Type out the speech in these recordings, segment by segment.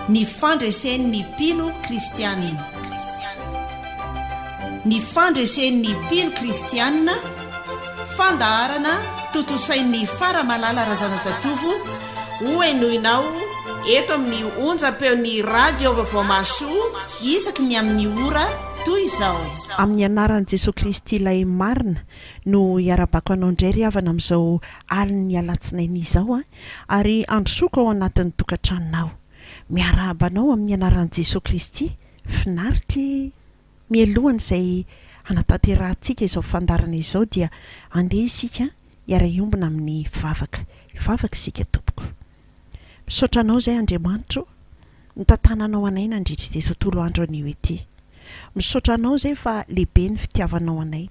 Ny fandresen' ny mpino kristianina. Ny fandresen' ny mpino kristianina, fandaharana tontosain' ny Fara Malala Razanajatovo hohenoina ao eto amin' ny onjam-peon' ny Radio Vaovaomahasoa isaky ny amin' ny ora toy izao. Amin'ny anaran'i Jesoa Kristy Ilay Marina, no iarabako anao indray ry havana amin'izao alin'ny alatsinainy izao an! ary handrosoako ao anatin'ny tokantranonao! miarahaba anao amin'ny anaran'i Jesoa Kristy, finaritra e! mialohan'izay hanatanterahantsika izao fandaharana izao dia andeha isika hiara-hiombona amin'ny vavaka, hivavaka isika tompoko. Misaotra Anao izay Andriamanitro nitatana Anao anay nandritra ity tontolo andro anio ity. Misaotra Anao izay fa lehibe ny fitiavanao anay.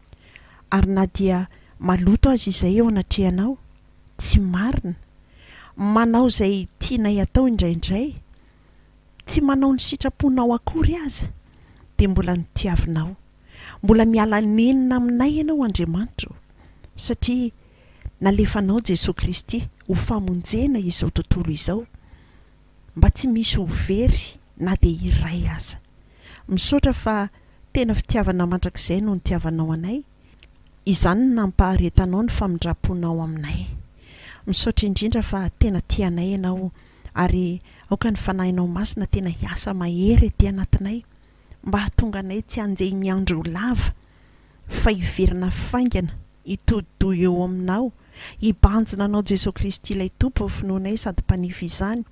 Ary na dia maloto aza izay eo anatrehanao, tsy marina, manao izay tianay atao indraindray, tsy manao ny sitraponao akory aza dia mbola notiavinao, mbola miala nenina aminay ianao Andriamanitro satria nalefanao Jesoa Kristy ho famonjena izao tontolo izao mba tsy misy ho very na dia iray aza, misaotra fa tena fitiavana mandrakizay no nitiavanao anay, izany no nampaharetanao ny famindramponao aminay, misaotra indrindra fa tena tia anay ianao ary aoka ny Fanahinao Masina tena hiasa mahery ety anatinay mba hahatonga anay tsy hanjehy ny andro ho lava fa hiverina faingana hitodi-doha eo Aminao hibanjina Anao Jesoa Kristy ilay Tompo finoanay sady Mpanefy izany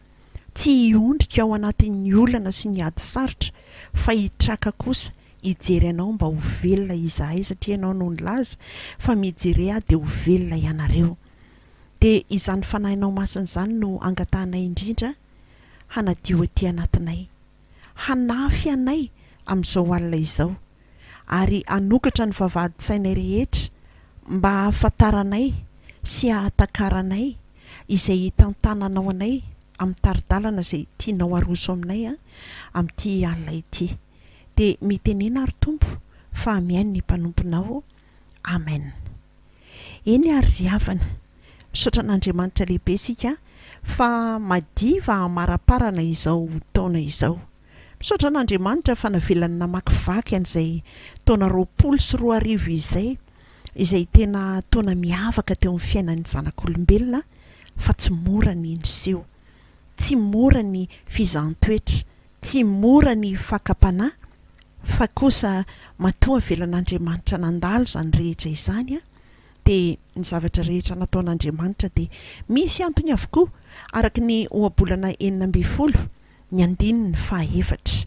tsy hiondrika ao anatin'ny olana sy ny ady sarotra fa hitraka kosa hijery Anao mba ho velona izahay satria Ianao no nilaza fa mijere ahy dia ho velona ianareo dia izany Fanahinao Masina izany no angatahanay indrindra hanadio aty anatinay, hanafy anay amin'izao alina izao, ary hanokatra ny vavahadin-tsainay rehetra mba hahafantaranay sy hahatakaranay izay hitantananao anay amin'ny tari-dalana izay tianao haroso aminay amin'ity alina ity. Dia mitenena ary Tompo fa mihaino ny mpanomponao Amen. Eny ary ry havana, misaotra an'Andriamanitra lehibe isika fa madiva hamaraparana izao taona izao. Misaotra an'Andriamanitra fa navelany namakivaky an'izay taona roapolo sy roa arivo izay, izay tena taona miavaka teo amin'ny fiainan'ny zanak'olombelona fa tsy mora ny niseho, tsy mora ny fizahan-toetra Tsy mora ny fakam-panahy fa kosa matoa velan'Andriamanitra nandalo izany rehetra izany aho dia ny zavatra rehetra nataon'Andriamanitra dia misy antony avokoa araka ny ohabolana enina ambin'ny folo ny andininy faha efatra.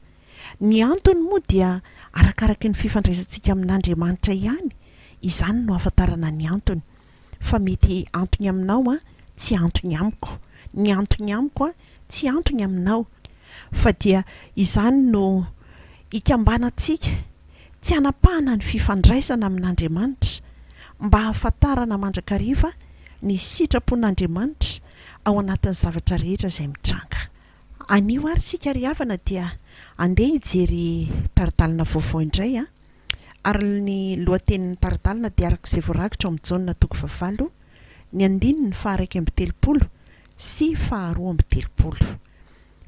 Ny antony moa dia arakaraky ny fifandraisantsika amin'Andriamanitra ihany izany no ahafantarana ny antony. fa mety antony aminao an, tsy antony amiko, ny antony amiko an, tsy antony aminao, fa dia izany no ikambanantsika, tsy hanapahana ny fifandraisana amin'Andriamanitra, mba hahafantarana mandrakariva ny sitrapon'Andriamanitra ao anatin'ny zavatra rehetra izay mitranga. Anio ary isika ry havana dia andeha hijery tari-dalana vaovao indray an! Ary ny lohatenin'ny tari-dalana dia araka izay voarakitra ao amin'ny Jaona toko fahavalo, ny andininy faha-iraika amby telopolo sy faharoa amby telopolo.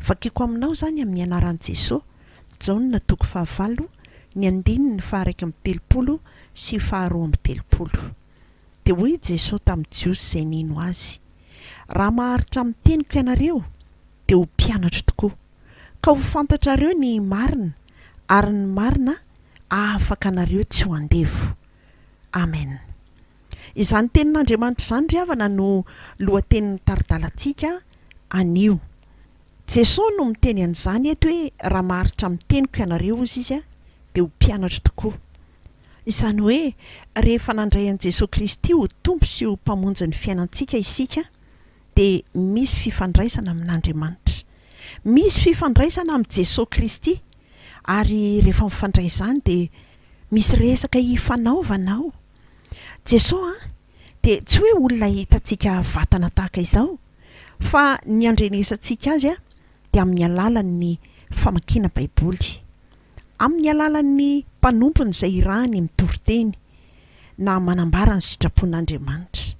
Vakiko aminao izany amin'ny anaran'i Jesoa, Jaona toko fahavalo, ny andininy faha-iraika amby telopolo sy faharoa amby telopolo. Dia hoy i Jesoa tamin'ny Jiosy izay nino Azy, Raha maharitra amin'ny teniko ianareo, dia ho mpianatro tokoa. ka ho fantatrareo ny marina, ary ny marina hahafaka anareo tsy ho andevo. Amen. Izany Tenin'Andriamanitra izany, ry havana, no lohatenin'ny tari-dalantsika anio. Jesoa no miteny an'izany eto hoe raha maharitra amin'ny teniko ianareo, hozy Izy, dia ho mpianatro tokoa. Izany hoe rehefa nandray an'i Jesoa Kristy ho Tompo sy ho Mpamonjy ny fiainantsika isika, dia misy fifandraisana amin'Andriamanitra. Misy fifandraisana amin'i Jesoa Kristy, ary rehefa mifandray izany dia misy resaka hifanaovana ao. Jesoa dia tsy hoe olona hitantsika vatana tahaka izao, fa ny andrenesantsika Azy dia amin'ny alalan'ny famakiana Baiboly, amin'ny alalan'ny mpanompony izay irahany mitory teny, na manambara ny sitrapon'Andriamanitra.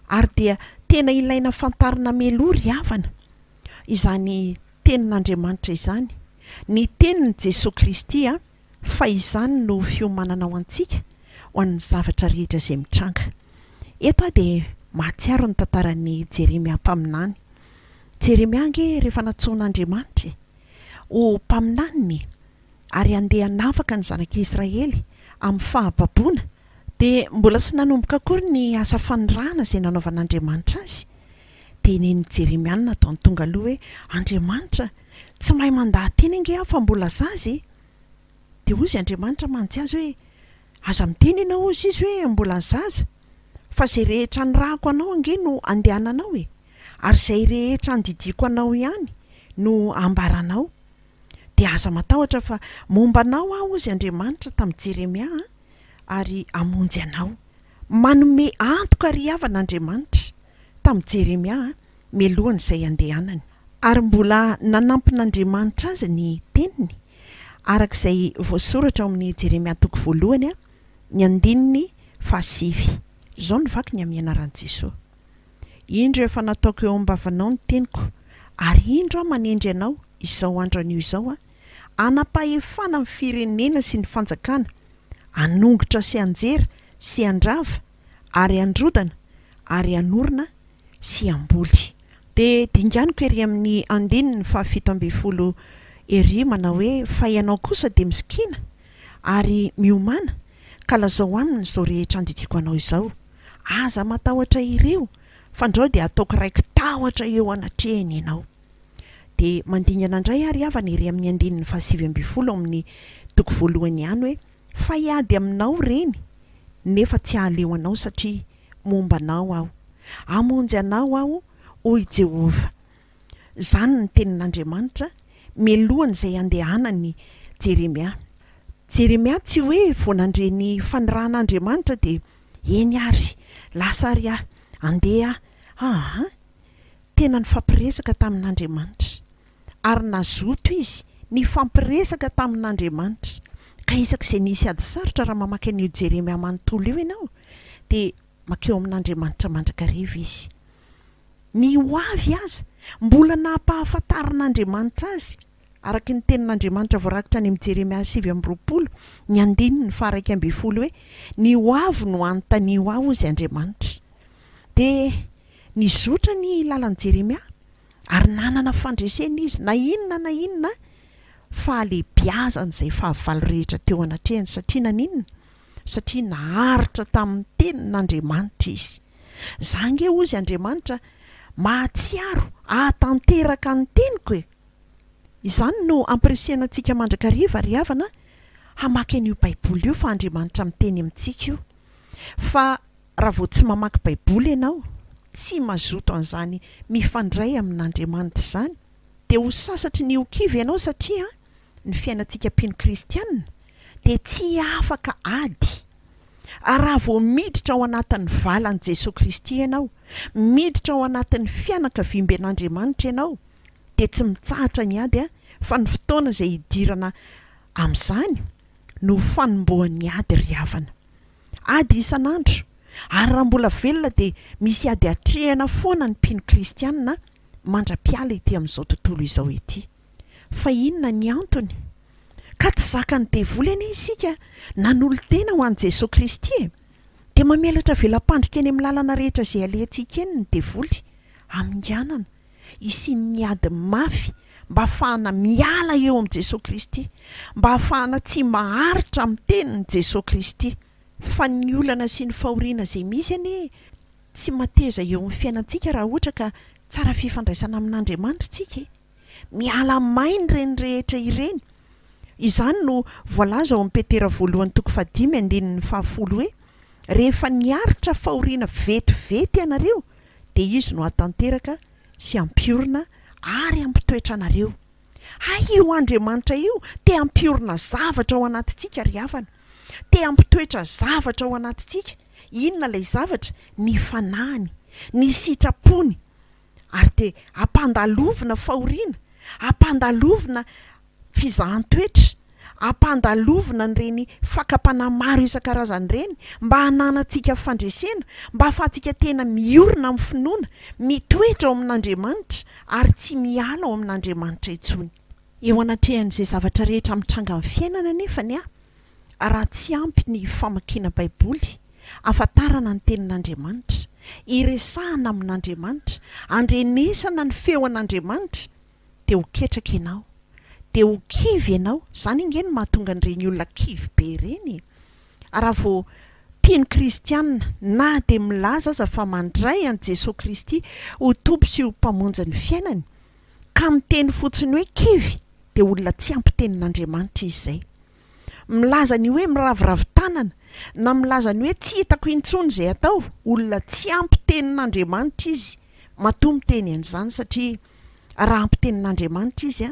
Ary dia tena ilaina fantarina meloa ry havana, izany Tenin'Andriamanitra izany, ny Tenin'i Jesoa Kristy a, fa izany no fiomanana ho antsika ho an'ny zavatra rehetra izay mitranga. Eto aho dia mahatsiaro ny tantaran'i Jeremia mpaminany. Jeremia ange rehefa nantsoin'Andriamanitra e! ho mpaminaniny e! ary handeha hanafaka ny zanak'i Israely amin'ny fahababoana, dia mbola tsy nanomboka akory ny asa fanirahana izay nanaovan'Andriamanitra azy, dia nen'i Jeremiana tany tonga aloha hoe, Andriamanitra, tsy mahay mandaha-teny ange aho fa mbola zaza e! Dia hozy Andriamanitra mantsy azy hoe, Aza miteny ianao, hozy izy, hoe, Mbola zaza, fa izay rehetra nirahako anao ange no handehananao e! Ary izay rehetra handidiako anao ihany no hambaranao. Dia aza matahotra fa momba anao aho hozy Andriamanitra tamin'i Jeremia an, ary hamonjy anao. Manome antoka ry havana Andriamanitra tamin'i Jeremia mialohan'izay handehanany. Ary mbola nanampin'Andriamanitra azy ny teniny, araka izay voasoratra ao amin'ny Jeremia toko voalohany, ny andininy fahasivy. Izao no vaky ny amin'ny anaran'i Jesoa. Indro efa nataoko eo am-bavanao ny teniko, ary indro aho manendry anao izao andro anio izao aho, hanam-pahefana ny firenena sy ny fanjakana, hanongotra sy hanjera sy handrava ary handrodana ary hanorina sy hamboly. Dia dinganiko ery amin'ny andininy fahafito ambin'ny folo ery manao hoe, Fa ianao kosa dia misikina ary miomàna, ka lazao aminy izao rehetra andidiako anao izao. Aza matahotra ireo, fandrao dia ataoko raiki-tahotra eo anatrehany ianao. Dia mandingana indray àry havana ery amin'ny andininy fahasivy ambin'ny folo ao amin'ny toko voalohany ihany hoe, Fa hiady aminao ireny, nefa tsy hahaleo anao satria momba anao aho. Hamonjy anao aho, hoy Jehovah. Izany ny tenin'Andriamanitra mialohan'izay handehanan'i Jeremia. Jeremia tsy hoe vao nandre ny faniran'Andriamanitra dia Eny ary, lasa ary aho. Andeha aho. Aa! Tena nifampiresaka tamin'Andriamanitra. Ary nazoto izy nifampiresaka tamin'Andriamanitra. Ka isaky izay misy ady sarotra, raha mamaky an'io Jeremia manontolo io ianao, dia mankeo amin'Andriamanitra mandrakariva izy. Ny ho avy aza, mbola nampahafantarin'Andriamanitra azy. Araka ny Tenin'Andriamanitra voarakitra any amin'ny Jeremia sivy amby roapolo, ny andininy faha-iraika ambin'ny folo hoe, Ny hoavy no anontanio Ahy, hozy Andriamanitra. Dia nizotra ny lalan'i Jeremia, ary nanana fandresena izy, na inona na inona fahalehibiazan'izay fahavalo rehetra teo anatrehany. Satria naninona? Satria naharitra tamin'ny Tenin'Andriamanitra izy. Za ange, hozy Andriamanitra, mahatsiaro hahatanteraka ny teniko e! Izany no ampirisihana antsika mandrakariva ry havana hamaky an'io baiboly io fa Andriamanitra miteny amintsika io fa raha vao tsy mamaky baiboly ianao tsy mazoto an'izany mifandray amin'Andriamanitra izany dia ho sasatry ny ho kivy ianao satria ny fiainantsika mpino kristianina dia tsy afaka ady ary raha vao miditra ao anatin'ny valan'i Jesoa Kristy ianao miditra ao anatin'ny fianakaviamben'Andriamanitra ianao dia tsy mitsahatra ny ady fa ny fotoana izay hidirana amin'izany no fanombohan'ny ady ry havana. Ady isan'andro, ary raha mbola velona dia misy ady atrehina foana ny mpino kristiana mandra-piala ety amin'izao tontolo izao ity. Fa inona ny antony? Ka tsy zakan'ny devoly anie isika nanolo-tena ho an'i Jesoa Kristy e! Dia mamelatra vela-pandrika eny amin'ny lalana rehetra izay alehantsika eny ny devoly, haminganana, hisian'ny ady mafy mba hahafahana miala eo amin'i Jesoa Kristy, mba hahafahana tsy maharitra amin'ny tenin'i Jesoa Kristy. Fa ny olana sy ny fahoriana izay misy anie tsy mateza eo amin'ny fiainantsika raha ohatra ka tsara fifandraisana amin'Andriamanitra isika e! Miala maina ireny rehetra ireny. Izany no voalaza ao amin'ny Petera voalohany toko fahadimy andininy fahafolo hoe, Rehefa niaritra fahoriana vetivety ianareo dia Izy no hahatanteraka sy hampiorina ary hampitoetra anareo. Hay io Andriamanitra io te hampiorina zavatra ao anatintsika ry havana. Te hampitoetra zavatra ao anatintsika. Inona ilay zavatra? Ny fanahiny, ny sitrapony. Ary dia ampandalovina fahoriana, ampandalovina. fizahan-toetra, ampandalovina an'ireny fakam-panahy maro isan-karazany ireny, mba hananantsika fandresena, mba hahafahantsika tena miorina amin'ny finoana, mitoetra ao amin'Andriamanitra, ary tsy miala ao amin'Andriamanitra intsony. Eo anatrehan'izay zavatra rehetra mitranga amin'ny fiainana anefa ny ahy, raha tsy ampy ny famakiana Baiboly, hahafantarana ny Tenin'Andriamanitra, hiresahana amin'Andriamanitra, handrenesana ny feon'Andriamanitra, te ho ketraka ianao, dia ho kivy ianao, izany ange no mahatonga an'ireny olona kivy be ireny e! ary raha vao mpino kristianina na dia milaza aza fa mandray an'i Jesoa Kristy ho Tompo sy ho Mpamonjy ny fiainany ka miteny fotsiny hoe kivy dia olona tsy ampy tenin'Andriamanitra izy izay. milaza ny hoe miraviravy tanana, na milaza ny hoe tsy hitako intsony izay atao, olona tsy ampy tenin'Andriamanitra izy, matoa miteny an'izany satria raha ampy tenin'Andriamanitra izy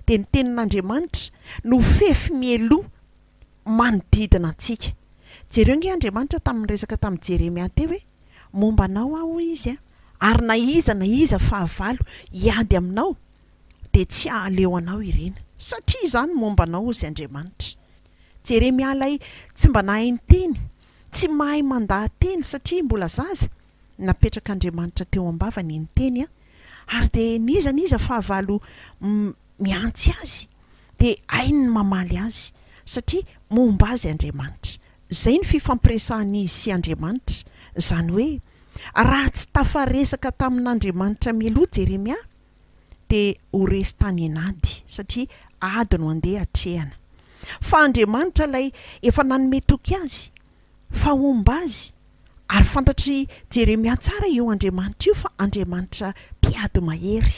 dia ny tenin'Andriamanitra no fefy mialoha manodidina antsika. Jereo ange Andriamanitra tamin'ny niresaka tamin'i Jeremia teo hoe, momba anao aho hoy izy ary na iza na iza fahavalo hiady aminao dia tsy hahaleo anao ireny, satria izany momba anao, hozy Andriamanitra. Jeremia ilay tsy mba nahay niteny, tsy mahay mandaha-teny satria mbola zaza, napetrak'Andriamanitra teo am-bavany iny teny, ary dia n'iza n'iza fahavalo mihantsy azy dia hainy ny mamaly azy, satria momba azy Andriamanitra. Izay no fifampiresahan'izy sy Andriamanitra, izany hoe, raha tsy tafaresaka tamin'Andriamanitra mialoha Jeremia, dia ho resy tany an'ady, satria ady no handeha hatrehana. Fa Andriamanitra ilay efa nanome toky azy fa homba azy, ary fantatr'i Jeremia tsara io Andriamanitra io fa Andriamanitra mpiady mahery,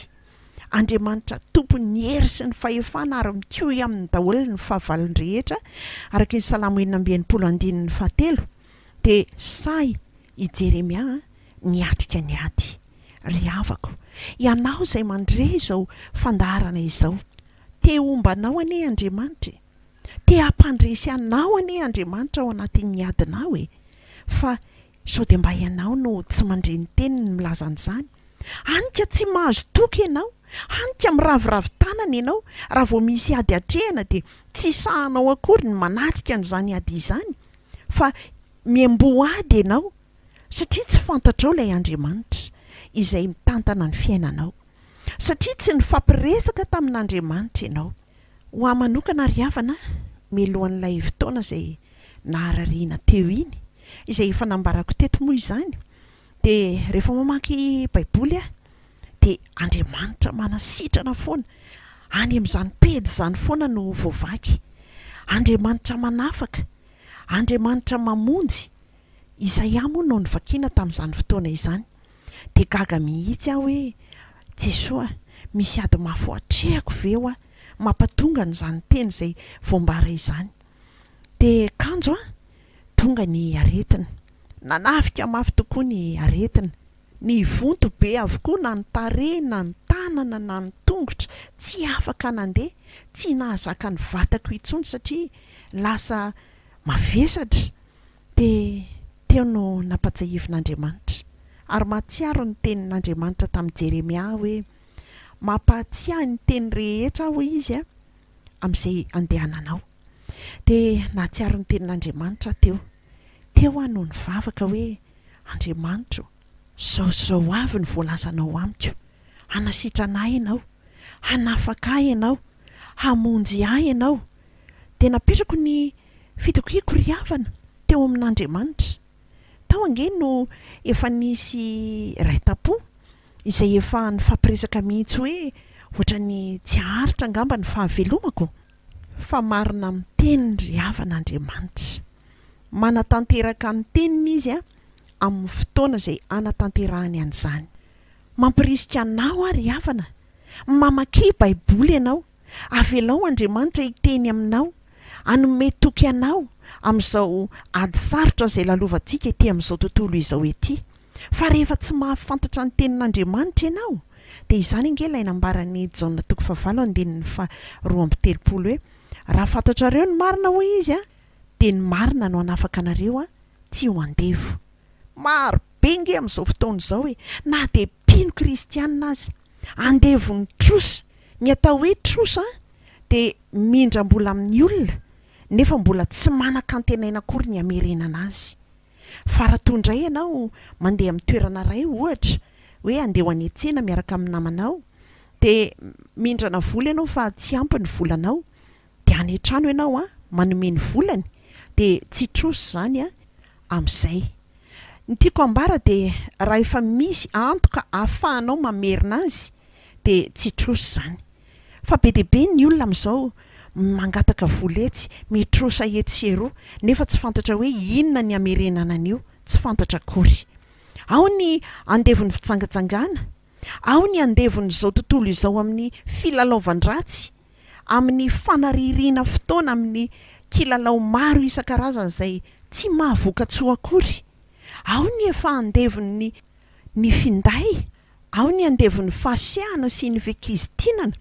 Andriamanitra tompon'ny hery sy ny fahefana ary mikohy aminy daholo ny fahavalony rehetra, araka ny Salamo enina amby enimpolo andininy fahatelo, Dia sahy i Jeremia niatrika ny ady. Ry havako, ianao izay mandre izao fandaharana izao, te homba anao anie Andriamanitra e! Te hampandresy anao anie Andriamanitra ao anatin'ny adinao e! Fa sao dia mba ianao no tsy mandre ny Teniny milaza an'izany? Hany ka tsy mahazo toky ianao, hany ka miraviravy tanana ianao raha vao misy ady atrehina dia tsy sahanao akory ny manatrika an'izany ady izany, Fa miamboady ianao satria tsy fantatrao ilay Andriamanitra izay mitantana ny fiainanao. Satria tsy nifampiresaka tamin'Andriamanitra ianao. Ho ahy manokana ry havana, mialohan'ilay fotoana izay naharariana teo iny, izay efa nambarako teto moa izany, Dia rehefa mamaky baiboly aho dia Andriamanitra manasitrana foana, any amin'izany pejy izany foana no voavaky, Andriamanitra manafaka, Andriamanitra mamonjy, Isaia moa no novakiana tamin'izany fotoana izany, dia gaga mihitsy aho hoe Jesoa a, misy ady mafy ho atrehako ve hoa mampatonga an'izany teny izay voambara izany, dia kanjo an! Tonga ny aretina. Nanafika mafy tokoa ny aretina. Nivonto be avokoa na ny tarehy na ny tanana na ny tongotra. Tsy afaka nandeha. Tsy nahazaka ny vatako intsony satria lasa mavesatra. Dia teo no nampatsiahivin'Andriamanitra. Ary mahatsiaro ny tenin'Andriamanitra tamin'i Jeremia aho hoe, Mampahatsiahy ny teny rehetra aho, hoy Izy, amin'izay andehananao. dia nahatsiaro ny tenin'Andriamanitra aho teo. Teo aho no nivavaka hoe, Andriamanitro, izao sy izao avy ny voalazanao amiko. Hanasitrana ahy Ianao. Hanafaka ahy Ianao. Hamonjy ahy Ianao. Dia napetrako ny fitakiako ry havana teo amin'Andriamanitra. Tao ange no efa nisy iray tam-po izay efa nifampiresaka mihitsy hoe, Hoatran'ny tsy haharitra angamba ny fahavelomako? Fa marina amin'ny teniny ry havana Andriamanitra. Manatanteraka ny teniny Izy amin'ny fotoana izay hanatanterahany an'izany. Mampirisika anao aho ry havana, mamakia Baiboly ianao, avelao Andriamanitra hiteny aminao, hanome toky anao amin'izao ady sarotra izay lalovantsika ety amin'izao tontolo izao ety. Fa rehefa tsy mahafantatra ny tenin'Andriamanitra ianao, dia izany ange ilay nambaran'i Jaona toko fahavalo andininy faharoa amby telopolo hoe, Raha fantatrareo ny marina, hoy izy, dia ny marina no hanafaka anareo tsy ho andevo. Maro be ange amin'izao fotoana izao e! na dia mpino kristianina aza, andevon'ny trosa. Ny atao hoe trosa dia mindram-bola amin'ny olona, nefa mbola tsy manan-kantenaina akory ny hamerenana azy. Fa raha toa indray ianao mandeha amin'ny toerana iray ohatra hoe andeha ho any an-tsena miaraka amin'ny namanao dia mindrana vola ianao fa tsy ampy ny volanao dia any an-trano ianao an manome ny volany dia tsy trosa izany an amin'izay ny tiako ambara dia raha efa misy antoka ahafahanao mamerina azy dia tsy trosa izany. fa be dia be ny olona amin'izao mangataka vola etsy, mitrosa etsy sy eroa nefa tsy fantatra hoe inona ny hamerenana an'io, tsy fantatra akory. Ao ny andevon'ny fijangajangana, ao ny andevon'izao tontolo izao amin'ny filalaovan-dratsy, amin'ny fanaririana fotoana amin'ny kilalao maro isan-karazany izay tsy mahavoka-tsoa akory, ao ny efa andevon'ny ny finday, Ao ny andevon'ny fahasiahana sy ny fikizintinana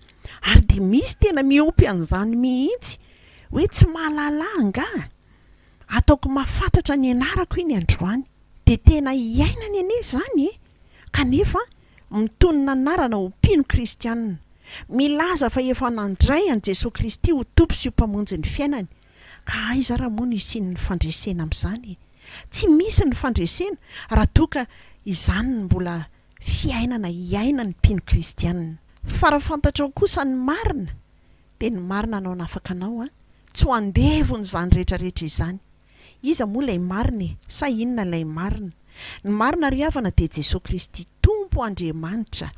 ary dia misy tena miompy an'izany mihitsy hoe tsy mahalala angaha? Ataoko mahafatratra ny anarako iny androany. Dia tena iainany anie izany e! Kanefa mitonona anarana ho mpino kristianina. Milaza fa efa nandray an'i Jesoa Kristy ho Tompo sy ho Mpamonjy ny fiainany. Ka aiza ara moa ny hisian'ny fandresena amin'izany e? Tsy misy ny fandresena raha toa ka izany no mbola fiainana iainan'ny mpino kristianina. Fa raha fantatrao kosa ny marina dia ny marina no hanafaka anao an! Tsy ho andevon'izany rehetra rehetra izany. Iza moa ilay marina e? Sa inona ilay marina? Ny marina ry havana dia Jesoa Kristy Tompo Andriamanitra!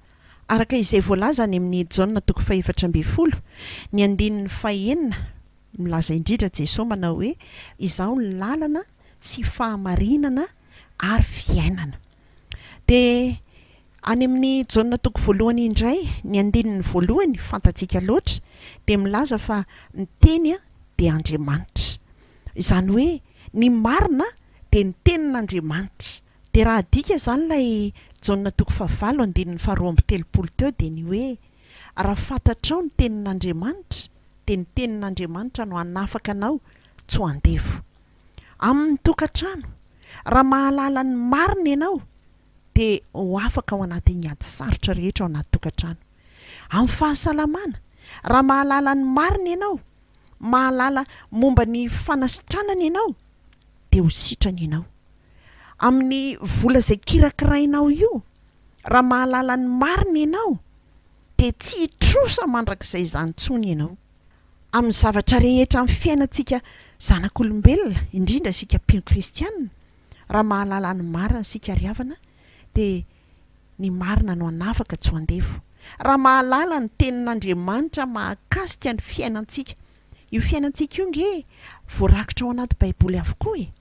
Araka izay voalaza any amin'ny Jaona toko fahefatra ambin'ny folo, ny andininy fahenina, Milaza indridra Jesoa manao hoe, Izaho ny lalana sy fahamarinana ary fiainana. Dia any amin'ny Jaona toko voalohany indray, ny andininy voalohany, fantatsika loatra, dia milaza fa ny Teny dia Andriamanitra. Izany hoe ny marina dia ny Tenin'Andriamanitra. Dia raha adika izany ilay Jaona toko fahavalo andininy faharoa amby telopolo teo dia ny hoe. Raha fantatrao ny tenin'Andriamanitra, dia ny tenin'Andriamanitra no hanafaka anao, tsy ho andevo. Amin'ny tokantrano, raha mahalala ny marina ianao, dia ho afaka ao anatin'ny ady sarotra rehetra ao anaty tokantrano. Amin'ny fahasalamana, raha mahalala ny marina ianao, mahalala momba ny fanasitranana ianao, dia ho sitrana ianao. Amin'ny vola izay kirakirainao io, Raha mahalala ny marina ianao, dia tsy hitrosa mandrakizay izany intsony ianao. Amin'ny zavatra rehetra amin'ny fiainantsika zanak'olombelona, indrindra isika mpino kristiana, raha mahalala ny marina isika ry havana, dia ny marina no hanafaka tsy ho andevo. Raha mahalala ny Tenin'Andriamanitra mahakasika ny fiainantsika, io fiainantsika io ange voarakitra ao anaty Baiboly avokoa e!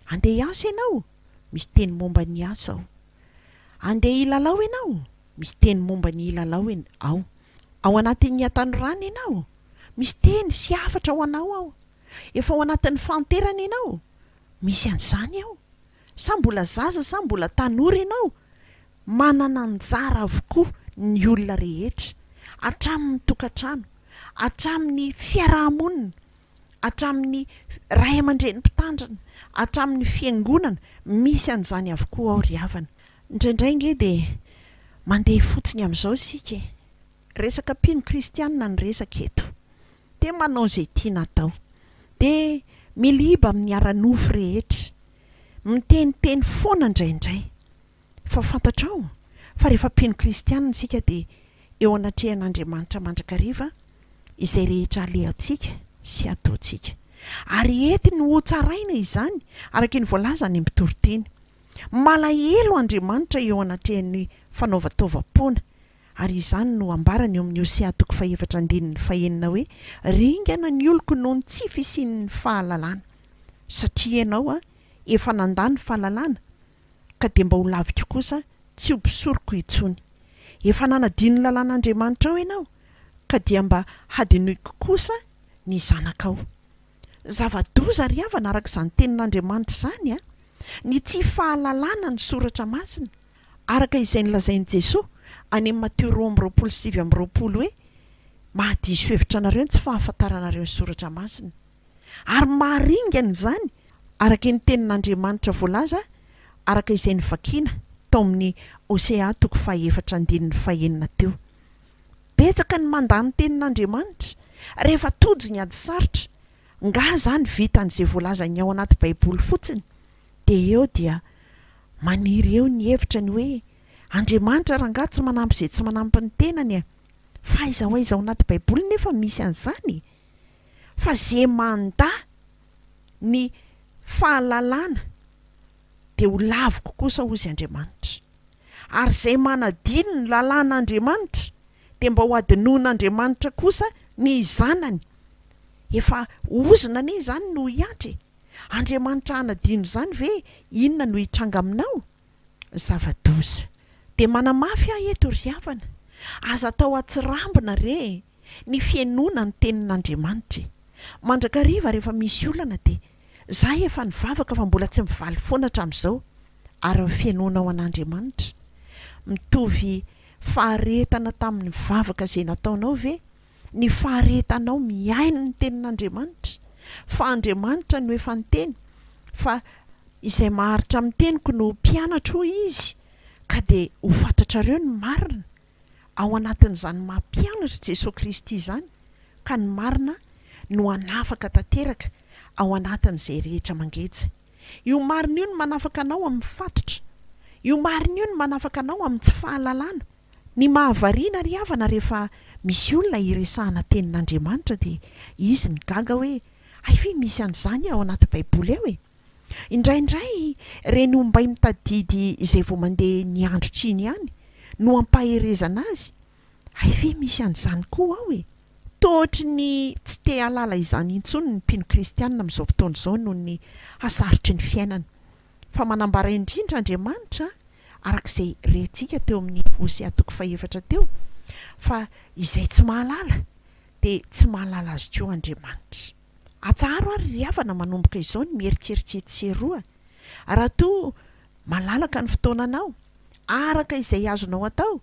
Handeha hiasa ianao? Misy teny momba ny asa ao. Andeha hilalao ianao? Misy teny momba ny hilalao ao. Ao anatin'ny hatanorana ianao? Misy teny sy hafatra ho anao ao. Efa ao anatin'ny fahanterana ianao? Misy an'izany ao. Sa mbola zaza sa mbola tanora ianao? Manana anjara avokoa ny olona rehetra, hatramin'ny tokantrano, hatramin'ny fiaraha-monina, hatramin'ny ray aman-dreny mpitandrina, hatramin'ny fiangonana, misy an'izany avokoa ao ry havana. Indraindray ange dia mandeha fotsiny amin'izao isika e! Resaka mpino kristianina ny resaka eto. Dia manao izay tiana atao. Dia miliba amin'ny ara-nofo rehetra. Miteniteny foana indraindray. Fa fantatrao fa rehefa mpino kristianina isika dia eo anatrehan'Andriamanitra mandrakariva izay rehetra alehantsika sy ataontsika. Ary ety no hotsaraina izany araka ny voalazan'ny mpitoriteny. Malahelo Andriamanitra eo anatrehan'ny fanaovan-taovam-poana. Ary izany no ambarany eo amin'ny Hosea toko fahefatra andininy fahenina hoe, Ringana ny oloko noho ny tsy fisian'ny fahalalana. Satria ianao efa nandà ny fahalalana ka dia mba ho laviko kosa tsy ho mpisoroko intsony. Efa nanadino ny lalàn'Andriamanitrao ianao, ka dia mba hadinoiko kosa ny zanakao. Zava-doza ry havana araka izany tenin'Andriamanitra izany an! Ny tsy fahalalana ny Soratra Masina, araka izay nolazain'i Jesoa any amin'ny Mateo roa amby roapolo sy sivy amby roapolo hoe, Mahadiso hevitra anareo ny tsy fahafantaranareo ny Soratra Masina. Ary maharingana izany, araka ny Tenin'Andriamanitra voalaza araka izay novakina tao amin'ny Hosea toko fahefatra andininy fahenina teo. Betsaka ny mandà ny Tenin'Andriamanitra rehefa tojo ny ady sarotra. Ngah izany vitan'izay voalazan'ny ao anaty Baiboly fotsiny? Dia eo dia maniry eo ny hevitra ny hoe, Andriamanitra rangaha tsy manampy izay tsy manampy ny tenany e! Fa aiza ho aiza ao anaty Baiboly nefa misy an'izany e? fa ze mandà ny fahalalana de ho laviko kosa hozy Andriamanitra, ary zay manadino ny lalàn' Andriamanitra de mba ho adinoin' Andriamanitra kosa ny zanany, efa ozona anie izany no hiantra e, Andriamanitra hanadino izany ve inona no hitranga aminao? zava-doza. Dia manamafy aho eto ry havana, aza atao atsirambina re e, ny fihainoana ny tenin'Andriamanitra e. Mandrakariva rehefa misy olana dia, Izaho efa nivavaka fa mbola tsy mivaly foana hatramin'izao, ary ny fihainoanao an'Andriamanitra mitovy faharetana tamin'ny vavaka izay nataonao ve Ny faharetanao mihaino ny tenin'Andriamanitra, fa Andriamanitra no efa niteny fa izay maharitra amin'ny teniko no ho mpianatro hoy Izy ka dia ho fantatrareo ny marina, ao anatin'izany maha mpianatry Jesoa Kristy izany ka ny marina no hanafaka tanteraka ao anatin'izay rehetra mangeja. Io marina io no manafaka anao amin'ny fatotra, io marina io no manafaka anao amin'ny tsy fahalalana. Ny mahavariana ry havana rehefa misy olona hiresahana tenin'Andriamanitra dia izy migaga hoe hay ve misy an'izany ao anaty baiboly ao e! Indraindray ireny ombay mitadidy izay vao mandeha ny andro tsiny ihany no ampaherezana azy hay ve misy an'izany koa ao e! Toa ohatry ny tsy te-hahalala izany intsony ny mpino kristianina amin'izao fotoana izao noho ny hasarotry ny fiainana. Fa manambara indrindra Andriamanitra, araka izay rentsika teo amin'ny Hosea toko fahefatra teo, fa izay tsy mahalala, dia tsy mahalala Azy koa Andriamanitra. Atsaharo àry ry havana manomboka izao ny miherikerika etsy sy eroa, raha toa malalaka ny fotoananao, araka izay azonao atao,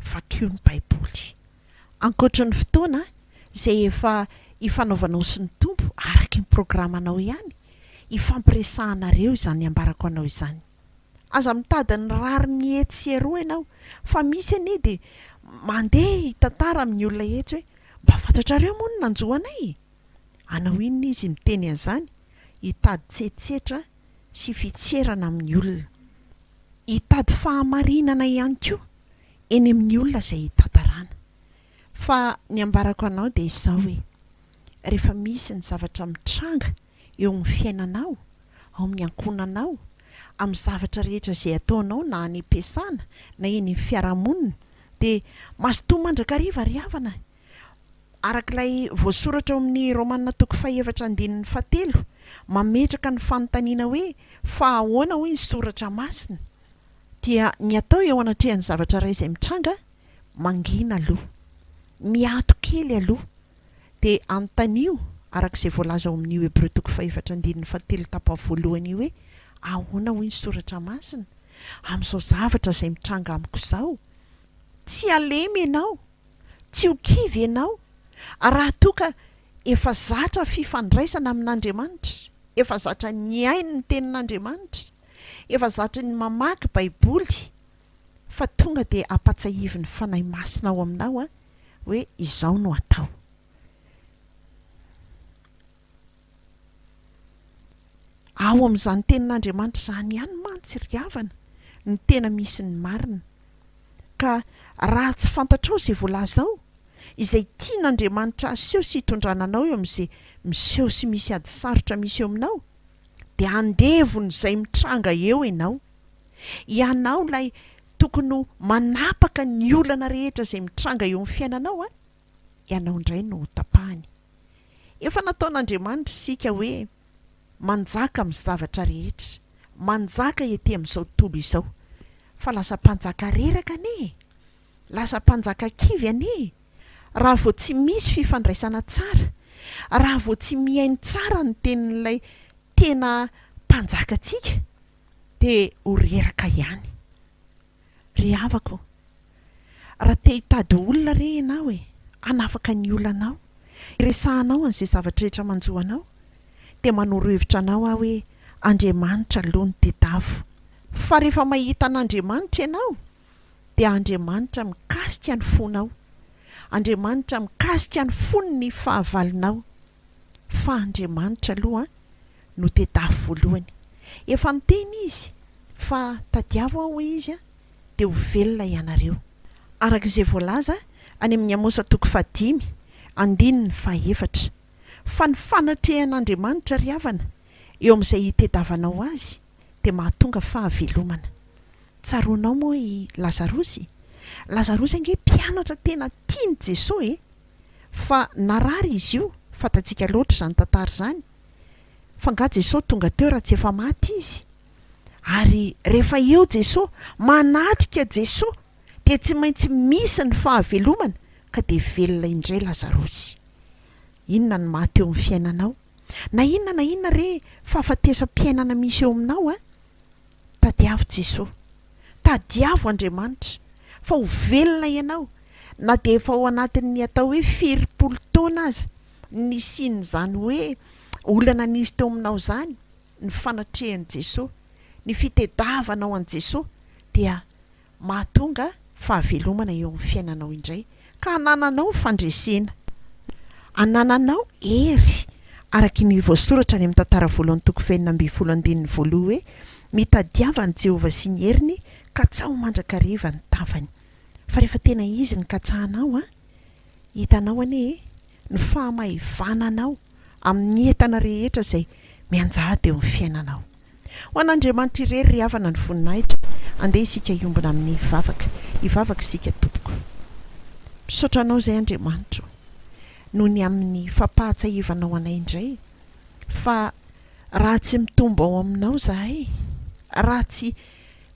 Vakio ny Baiboly ankoatry ny fotoana izay efa ifanaovanao sy ny Tompo araka ny programanao ihany ifampiresahanareo izany ambarako anao izany. Aza mitady ny rariny etsy sy eroa ianao fa misy anie dia mandeha hitantara amin'ny olona etsy hoe mba fantatrareo moa ny nanjo anay e! Hanao inona izy miteny an'izany? Hitady tsetsitra sy fitserana amin'ny olona. Hitady fahamarinana ihany koa eny amin'ny olona izay hitantarana. Fa ny ambarako anao dia izao hoe, rehefa misy ny zavatra mitranga eo amin'ny fiainanao, ao amin'ny ankohonanao, amin'ny zavatra rehetra izay ataonao na any am-piasana na eny amin'ny fiarahamonina dia mazotoa mandrakariva ry havana Araka ilay voasoratra ao amin'ny Romana toko fahefatra andininy fahatelo, mametraka ny fanontaniana hoe, Fa ahoana hoy ny Soratra Masina? dia ny atao eo anatrehan'ny zavatra iray izay mitranga, mangina aloha, miato kely aloha, dia anontanio araka izay voalaza ao amin'io Hebreo toko fahefatra andininy fahatelo tapa voalohany io hoe, Ahoana hoy ny Soratra Masina? Amin'izao zavatra izay mitranga amiko izao, tsy halemy ianao, Tsy ho kivy ianao raha toa ka efa zatra fifandraisana amin'Andriamanitra, efa zatra nihaino ny Tenin'Andriamanitra, efa zatra ny mamaky Baiboly, fa tonga dia ampatsiahivin'ny Fanahy Masina ao aminao hoe izao no atao. Ao amin'izany Tenin'Andriamanitra izany ihany mantsy ry havana no tena misy ny marina. Ka raha tsy fantatrao izay voalazao, izay tian'Andriamanitra haseho sy hitondrana anao eo amin'izay miseho sy misy ady sarotra misy eo aminao, dia andevon'izay mitranga eo ianao. Ianao ilay tokony ho manapaka ny olana rehetra izay mitranga eo amin'ny fiainanao an! ianao indray no hotapahany. Efa nataon'Andriamanitra isika hoe manjaka amin'ny zavatra rehetra, manjaka ety amin'izao tontolo izao. Fa lasa mpanjaka reraka anie e! Lasa mpanjaka kivy anie e! Raha vao tsy misy fifandraisana tsara, raha vao tsy mihaino tsara ny tenin'ilay tena mpanjakantsika dia ho reraka ihany. Ry havako, raha te hitady olona re ianao e, hanafaka ny olanao, hiresahanao an'izay zavatra rehetra manjo anao, dia manoro hevitra anao aho hoe Andriamanitra aloha no tedavo. Fa rehefa mahita an'Andriamanitra ianao, dia Andriamanitra mikasika ny fonao, Andriamanitra mikasika ny fony ny fahavalonao. fa Andriamanitra aloha no tedafo voalohany. Efa niteny Izy fa tadiavo Aho, hoy Izy, dia ho velona ianareo. Araka izay voalaza any amin'ny Amosa toko fahadimy, andininy fahaefatra. Fa ny fanatrehan'Andriamanitra ry havana eo amin'izay itedavanao Azy dia mahatonga fahavelomana. Tsaroanao moa i Lazarosy? Lazarosy ange mpianatra tena tian'i Jesoa e! fa narary izy io, fantatsika loatra izany tantara izany, fa nga Jesosy tonga teo raha tsy efa maty izy? Ary rehefa eo Jesosy, manatrika Jesosy, dia tsy maintsy misy ny fahavelomana ka dia velona indray Lazarosy. Inona no maha teo ny fiainanao? Na inona na inona re fahafatesam-piainana misy eo aminao a! Tadiavo Jesoa. Tadiavo Andriamanitra. Fa ho velona ianao. Na dia efa ao anatin'ny atao hoe firimpolo taona aza ny nisian'izany hoe olana nisy teo aminao izany, ny fanatrehan'i Jesoa, ny fitediavanao an'i Jesoa dia mahatonga fahavelomana eo amin'ny fiainanao indray, ka hanananao fandresena, hanananao hery, araka ny voasoratra any amin'ny Tantara Voalohany toko fahenina ambin'ny folo andininy voaloha hoe, Mitadiava an'i Jehovah sy ny heriny, katsaho mandrakariva ny tavany. Fa rehefa tena izy no katsahanao, hitanao anie e, ny fahamaivananao amin'ny entana rehetra izay mianjady eo amin'ny fiainanao. Ho an'Andriamanitra irery ry havana ny voninahitra, andeha isika hiombona amin'ny vavaka, hivavaka isika tompoko. Misaotra anao izay Andriamanitro noho ny amin'ny fampahatsahivanao anay indray fa raha tsy mitombo ao aminao zahay, raha tsy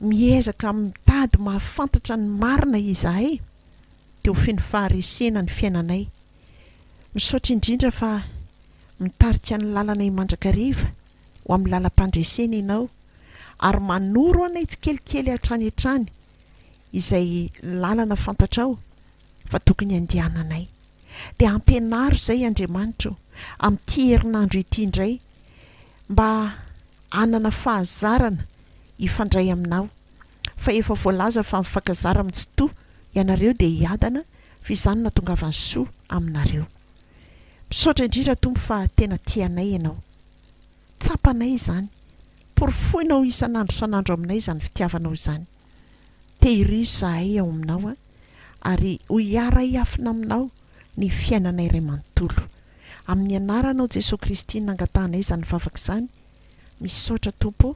miezaka mitady mahafantatra ny marina izahay dia ho feno faharesena ny fiainanay Misaotra indrindra fa mitarika ny lalana i Mandrakariva ho amin'ny lalam-pandresena ianao ary manoro anay tsikelikely hatrany hatrany izay lalana fantatrao fa tokony handehananay. Dia ampianaro izay Andriamanitra o, amin'ity herinandro ity indray mba hanana fahazarana hifandray aminao. fa efa voalaza fa mifankazara am Tsitoha ianareo dia hiadana fa izany no atongavan'ny soa aminareo. Misaotra indrindra Tompo fa tena tianay ianao. Tsapanay izany. Porofoinao isan'andro isan'andro aminay izany fitiavanao izany. Tehirizo izahay ao aminao a! ary ho hiara-hiafina aminao ny fiainanay iray manontolo. Amin'ny anaranao Jesoa Kristy nangatahanay izany vavaka izany. Misaotra Tompo o!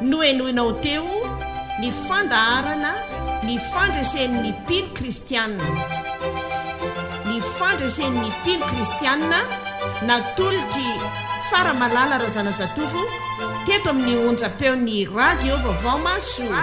Nohenoina ho teo ny fandaharana Ny fandresen'ny mpino kristiana. Ny fandresen'ny mpino kristiana natolotr'i Faramalala Razanajatovo teto amin'ny onjam-peon'ny Radio Vaovao Mahasoa.